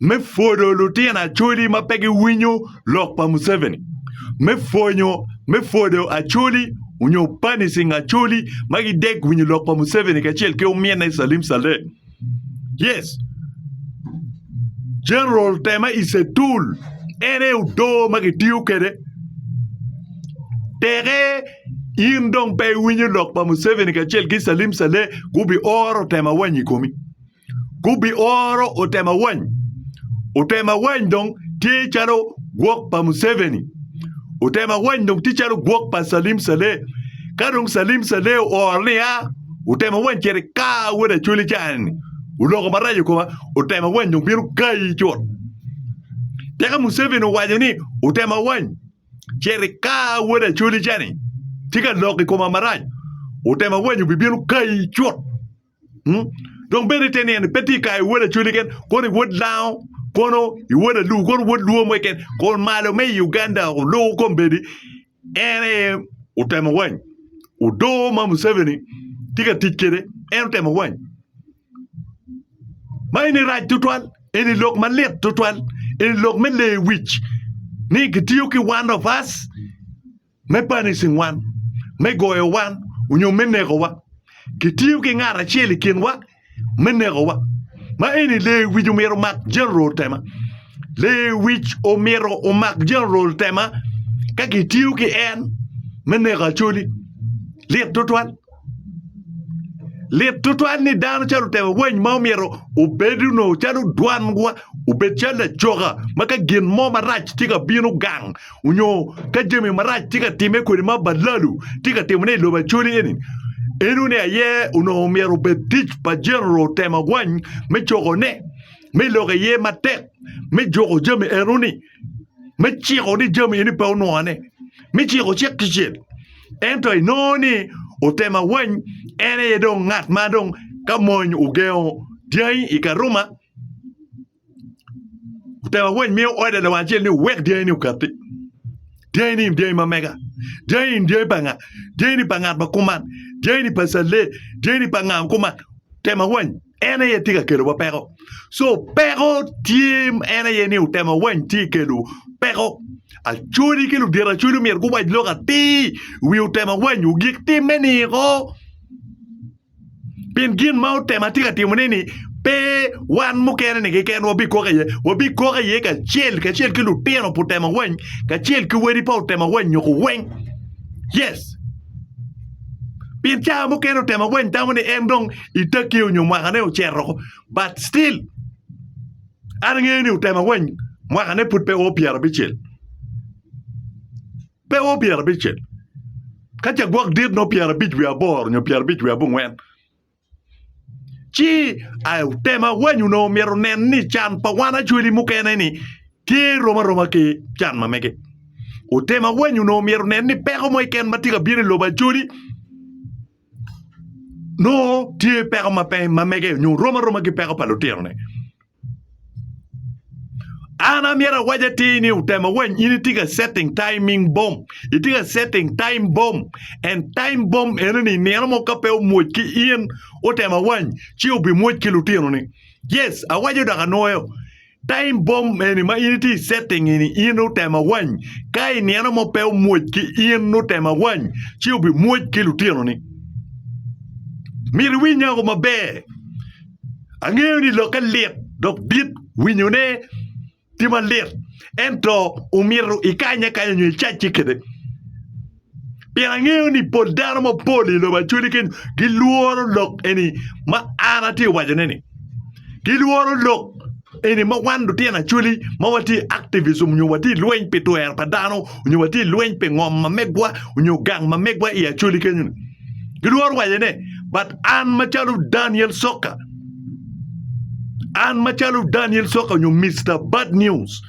me pwodo lutino acholi ma pe giwinyo lok pa Museveni, me pwonyo me pwodo acholi onyo punishing acholi ma gidek winyo lok pa Museveni kacel ki ominne Salim Saleh. Yes, General Tema is a tool. En aye odoo ma kitiyo kwede. Teke in dong pe iwinyo lok pa Museveni kacel ki Salim Saleh gubi oro Tema wany i komi. gubioro Otemawany. Otemawany dong tye calo gwok pa Museveni. Otemawany dong tye calo gwok pa Salim Saleh. Ka dong Salim Saleh ooro ni a, Otemawany cito ika wod Acholi ca ni oloko marac i koma, Otemawany dong bino kayi cut. Tika Museveni owaco ni Otemawany cito ika wod Acholi ca ni tye ka lok i koma marac, Otemawany obibino kayi cut. Dong bed ite ni en pe tye ka i wod Acholi keken, kono i wod Lango, kono i wod Alubo, kono i wod Luo mo keken. Kun malo me i Uganda oluko kombeddi, en aye otemo wany. Odoo ma Museveni tye ka tic kwede, en otemo wany. Ma eni rac tutwal, eni lok malit tutwal, eni lok me leyo wic ni kitiyo ki one of us. me banishing wan, me goyo wan, onyo me nekowa. Kitiyo ki ngat acel i kinwa me nekowa. Ma eni lewic omyero omak General Tema. Lewic omyero omak General Tema ka kitiyo ki en me neko Acholi. Lit tutwal. Lit tutwal ni dano calo otemo weny ma omyero obed onongo calo dwanwa obed calo lacoka ma ka gin mo marac tye ka bino gang onyo ka jami marac tye ka timme kwede ma balalu tye ka timone i lobo Acholi eni eno ni aye onongo myero obed tic pa Jeneral otemo weny me cokone me lok iye matek me juko jami eno ni me ciko ni jami eni pe onwone mi ciko cik kicel ento inongo ni otema wany en aye dong ngat ma dong ka mony ogengo dyangi i karuma otema wany miyo ode lawang acel ni wek dyangi ni okatti dyangi ni dyangi ma mega dyangi ni dyangi pa nga dyangi ni pa ngat ma kuman dyangi ni pa calle dyangi ni pa nga kuman tema wany en aye tye ka kelowa peko. So peko tye en aye ni otemo awany tye kelo peko. Acholi ki ludito acholi omyero guwac lok atir wi otemo awany ogik timme niko. Pien gin ma otemo atye ka timone ni pe wan mukene ni keken wabikok iye, wabikok iye kacel kacel ki lutino pa otemo awany kacel ki wadi pa otemo awany nyoko weng. Yes. Pien cawa mukene otemo awany tamo ni en dong i takke onyo mwaka ne ocito but still an angeyo ni otemo awany mwaka ne pud pe o pyera bicel pe o pyera bicel ka ca gwok dit no pyera bic wi aboro onyo pyera bic wi abongwen ci ay otemo awany ono myero nen ni can pa wan acweli mukene ni tye rom aroma ki can ma mege otemo awany ono myero nen ni peko mo iken matye ka bino i lobo acweli nongo tye peko ma pe ma mege nyo rom aroma ki peko pa lutinone an amyero awac atir ni otemo weny in itye ka setting timing bomb itye ka setting time bomb and time bomb ene ni nino mo ka pe omwoc ki in otemo awany ci obimwoc ki lutinoni yes awaco dok anwoyo Time bomb eni ma in itye i setting eni in otemo awany ka i nino mo pe omwoc ki in otemo awany ci obimwoc ki lutinoni myero iwiny nyako maber angeyo ni lokke lit dok dit winyone tye malit ento omyero ikanye akanya nyo icacce kwede Pien angeyo ni pol dano mapol i lobo acwali keni gilworo lok eni ma an atye wacone ni. Gilworo lok eni ma wan lutino acwali ma watye i activism nyo watye lweny pi twero pa dano nyo watye lweny pi ngom ma megwa nyo gang ma megwa i acwali kenyo ni. Gilworo waco ne but an macalo Daniel Soka an macalo Daniel Soka nyo Mister Bad News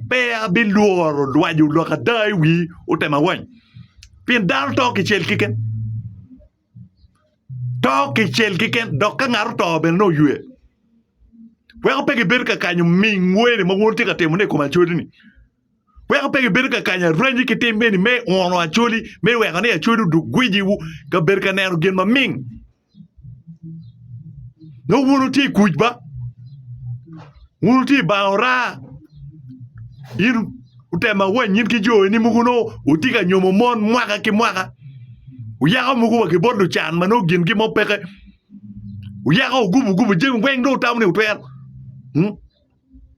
pe abilworo lwaco lok ada i wi otema wany? Pien dano to kicel keken. To kicel keken dok ka ngat oto bene nongo oywe. Weko pe gibedo ka kanyo ming weni ma wun tye ka timone i kom acolini. Weko pe gibedo ka kanyo aranyi ki tim eni me uno acoli me weko ni acoli oduk gwijiwu ka bedo ka neno gin maming. Dong wun wutye i kuc ba? Wun wutye i banga ora? In utema wanyiny ki jo eni mogo nongo wutye ka nyomo mon mwaka ki mwaka. Wuyako mogo wa ki bot lucan ma nongo gingi mo peke. Wuyako wugubo gubo jami weng dong wutamo ni wutwero. Hmm?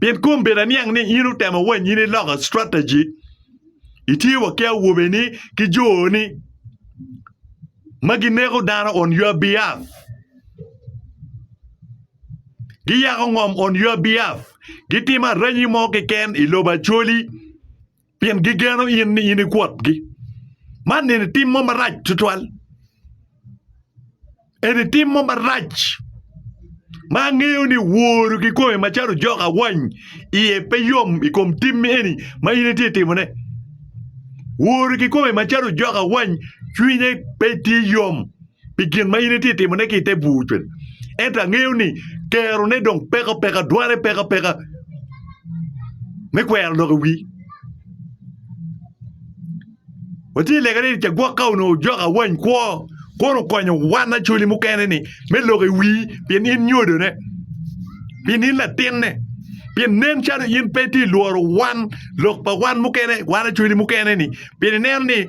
Pien kong bed aniang ni in otemo wa nyini loko strategy, itye wa ki awobeni ki joni ma gineko dano on your behalf. Giyako ngom on your behalf. Gitimo aranyi mo keken i lobo Acholi. pien gigeno in ni in ikwotgi. Man nini tim mo marac tutwal. Eni tim mo marac ma angeyo ni woro kikome macalo jok awany iye pe yom i kom tim eni ma in itye timone. Woro kikome macalo jok awany cwinye pe tye yom. pi gin ma in itye ka timone ki i te bur cwec. Ento angeyo ni kerone dong peko peka, dware peko peka me kwero lok i wi. Watye lega ni cagwok ka onongo jok awany kwo kono okonyo wan acoli mukene ni me lok i wi pien in nyodone, pien in latinne, pien nen calo in pe ti lworo wan lok pa wan mukene, wan acoli mukene ni pien ineno ni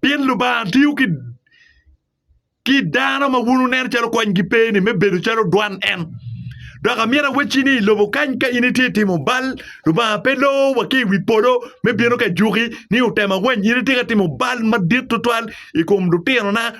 Pien Lubanga tiyo ki dano ma wun wuneno calo konygi pe ni me bedo calo dwan en. Dok amyero awecci ni i lobo kany ka in itye ka timo bal, Lubanga pe loo wa ki i wi polo me bino ka juki ni otemo awany. In itye ka timo bal madit tutwal i kom lutinona.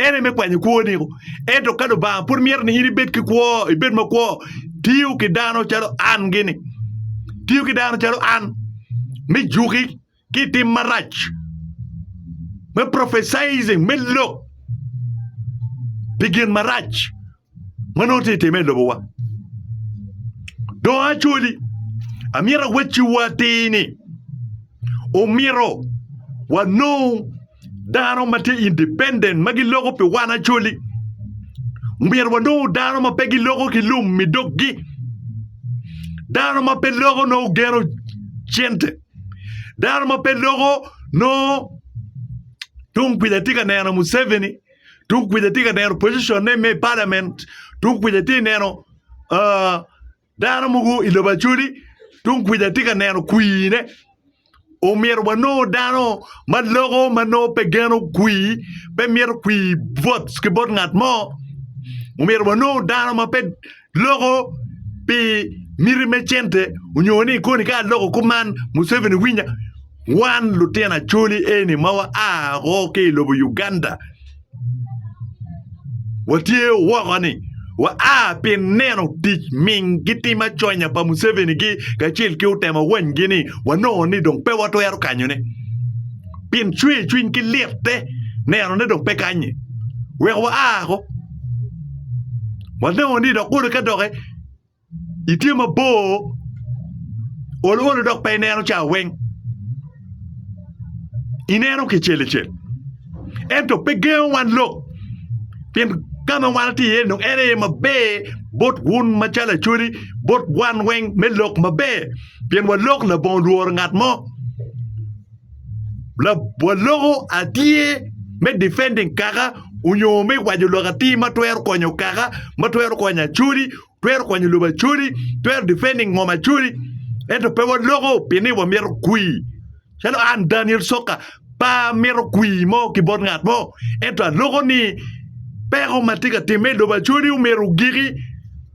En aye me kwanyo kwoni-gu. Ento ka Lubanga pud mito ni in ibed ki kwo, ibed makwo, tiyo ki dano calo an gini, tiyo ki dano calo an me juki ki i tim marac, me prophesizing, me lok pi gin marac. ma nongo tye ka timme i lobowa. Dong actually amyero awecciwu atir ni omyero wanong dano ma tye independent ma giloko pi wan actually omyero wanong dano ma pe giloko ki lum i doggi dano ma pe loko nongo geno cente dano ma pe loko nongo tung kuja tye ka neno Museveni. Tung kuca atye ka neno position ne me parliament, tung kuca atye neno uh, dano mogo i lobo acoli, tung kuca atye ka neno kwii ne. Omyero wanongo dano ma loko ma nongo pe geno kwii, pe mito kwii votes ki bot ngat mo. Omyero wanongo dano ma pe loko pi miti me cente onyo ni koni ka aloko kop man Museveni winya, wan lutino Acholi eni ma waa woko ki i lobo Uganda watye woko ni waa pi neno tic ming ki tim aconya pa Museveni gi kacel ki otemo wanygi ni wanongo ni dong pe watwero kanyone pien cwercwiny ki lite neno ni dong pe kanye wek waa woko. Wanongo ni dok olo ka doke itye mabor ol olo dok pe ineno ca weng ineno kicel icel ento pe gengo wan lok pien ka ma wan watye iye dong en aye maber bot wun macalo acholi bot wan weng me lok maber pien walok labongo lworo ngat mo. waloko atir me defending kaka onyo me waco lok atir ma twero konyo kaka ma twero konyo Acholi twero konyo lobo Acholi twero defending ngom Acholi ento pe waloko pien ni wamito kwir calo an Daniel Soka pe amito kwir mo ki bot ngat mo ento aloko ni peko ma tye ka timme i lobo Acholi omyero ogiki.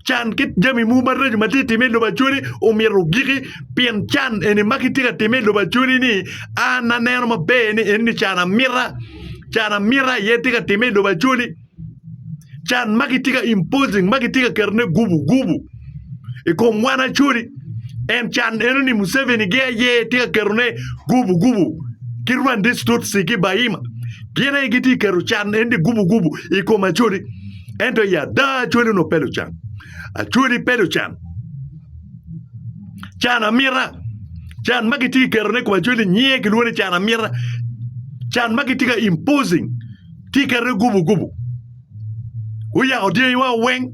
Can ki jami mogo maraco ma tye ka timme i lobo Acholi omyero ogiki pien can eni ma kitye ka timme i lobo Acholi-ni an aneno maber ni enoni can amita, can amita aye tye ka timme i lobo Acholi. Can ma kitye ka imposing ma kitye ka ketone gubu gubu i kom wan Acholi en can enoni Museveni-gi aye tye ka ketone gubu gubu ki Rwandese Tutsi ki Bahima gin aye gitye ka keto can enoni gubu gubu i kom Acholi. Ento i ada Acholi onongo pe lucan. Acholi pe lucan. Can amita. Can ma kitye ka ketone i kom Acholi nyinge kilwongo ni can amita. Can ma kitye ka imposing tye ka ketone gubu gubu. Guyako dyangiwa weng.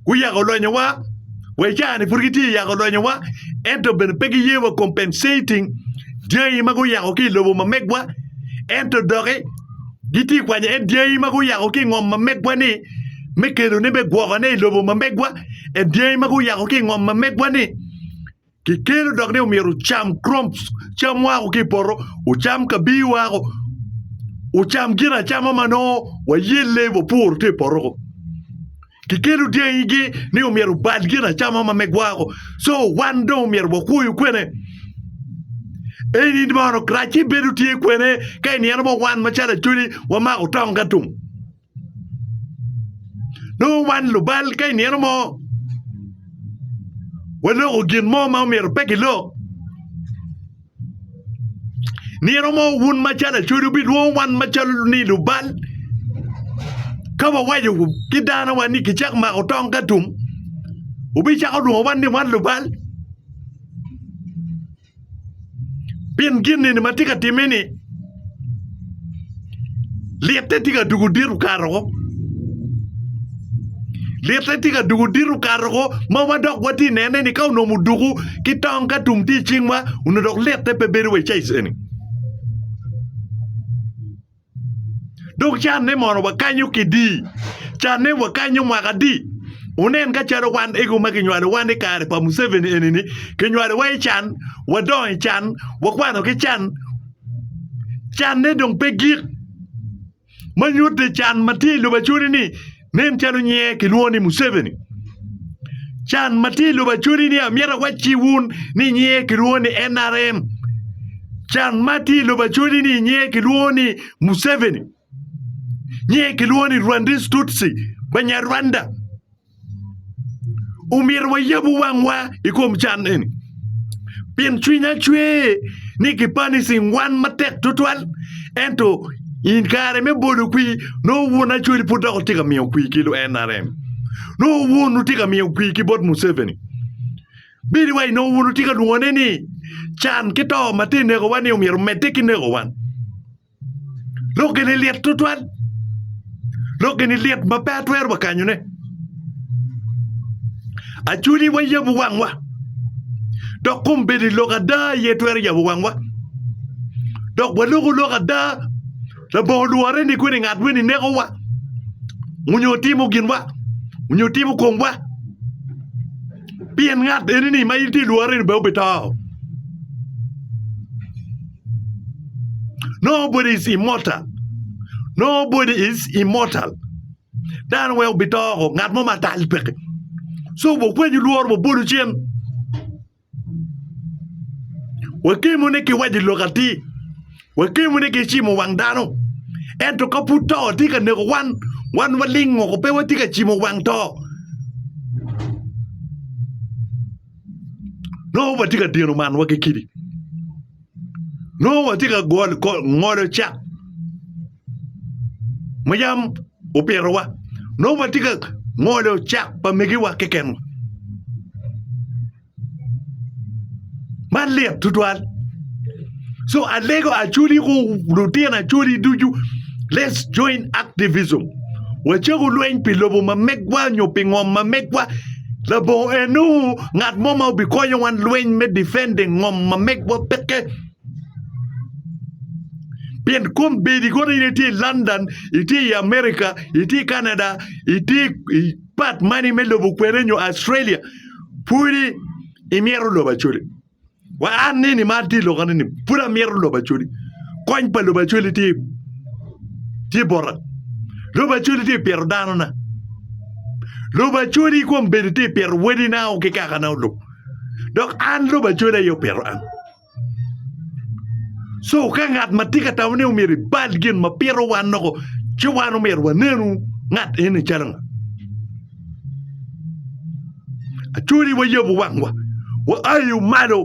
Guyako lonyowa. Wa i caa-ni pud gitye ka yako lonyowa ento bene pe giye wa compensating dyangi ma guyako ki i lobo ma megwa ento doki gitye ka kwanyo en dyangi ma guyako ki i ngom ma megwa-ni me kelone me gwokone i lobo ma megwa. En dyangi ma guyako ki i ngom ma megwa-ni kikelo dok ni omyero wucam crops, cam ma oa ki i poto, wucam kabii woko, wucam gin acama ma nongo wayelle wapuro tye i poto-ku. Kikelo dyangigi ni omyero obal gin acama ma me gwako. So wan dong omyero wakwoyo kwene? Eni mono Karaci bedo tye kwene ka iniyeno mo wan macalo Acholi wamako tong ka tum. Nongo wan lubal ka iniyeno mo waloko gin mo ma omyero pe gilok. Nino mo wun macalo acodi wubidwongo wan macalo ni lubal ka wawaco ki danowa ni kicako mako tong ka tum wubicako lwongo wan ni wan lubal pien gin eni ma tye ka timme-ni. Litte tye ka dwogo dit okato woko. Litte tye ka dwogo dit okato woko ma wadok watye ka nene ni ka onongo odwogo ki tong ka tum tye i cingwa onongo dok litte pe bedo wa i caic eni. Dok canne mono wakanyo kidi, canne wakanyo mwaka adi? Wunen ka calo wan ego ma kinywalowa i kare pa Muceveni eni-ni, kinywalowa i can, wadongo i can, wakwano ki can. Canne dong pe gik, ma nyutte can ma tye i lubacodi-ni nen calo nyinge kilwongo ni Museveni. Can ma tye i lubacodi-ni amyero awac ki wun ni nyinge kilwongo ni NRM. Can ma tye i lubacodi-ni nyinge kilwongo ni Museveni, nyinge kilwongo ni Rwandese Tutsi, Banyarwanda. Omyero wayab wangwa i kom can eni pien cwinya cwer ni kipani cingan matek tutwal ento i kare me bolo kwir nongo wun Acholi pud dok wutye ka miyo kwir ki NRM nongo wun wutye ka miyo kwir ki bot Museveni bedo wai nongo wun wutye ka lwongone ni can ki to ma tye ka nekowa ni omyero omedde ki neko wan. Lok eni lit tutwal. Lok eni lit ma pe atwero wa kanyone. Acwiny wa yabo wangwa. Dok kom bedo i lok ada aye twero yabo wangwa. Dok waloko lok ada labongo lwore ni kweni ngat weni nekowa onyo timo ginwa onyo timo komwa pien ngat eni ni ma in tye lwore ni bene obi to. Nobody is immortal. Nobody is immortal. Dano wek obitoko ngat mo matal peke. So wukwenyo lworo wabolu cen. Wakemo ni ki waji lok atir. Wakemo ni ki cimo wang dano. Ento ka pud to tye ka neko wan, wan waling oko pe watye ka cimo wang to. nongo watye ka dino manwa ki kidi nongo watye ka golo ngolo cak ma yam opitowa nongo watye ka ngolo cak pa megiwa kekenwa man lit tutwal. So alego Acholi ku lutino Acholi ducu, let's join activism. Wacaku lweny pi lobo ma megwa nyo pi ngom ma megwa. Labongo enu ngat mo ma obikonyo wan lweny me defending ngom ma megwa peke. Pien kom bedi kono in itye i London, itye i America, itye i Canada, itye i pat mani me lobo kwene nyo Australia, pudi imyero lobo Acholi. Wa an ni ni mar tye i loka ni ni pud amyero lobo acoli. Kony pa lobo acoli tye tye bota. Lobo acoli tye pyero dano na. Lobo acoli kom bedi tye pyero wedi na o ki kaka na olub. Dok an lobo acoli ayo pyero an. So ka ngat ma tye ka tamo ni omyero ibal gin ma pito wan noko ci wan omyero wanenu ngat eni calo nga. Atwoni wayabo wangwa, waayo malo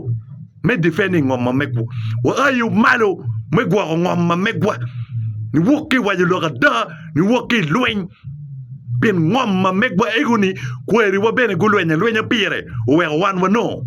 me difending ngom ma megwa, waayo malo me gwoko ngom ma megwa, niwok ki i waco lok ada, niwok ki i lweny pien ngom ma megwa ego-ni kwariwa bene gulweny alwenya pire, oweko wan wanongo.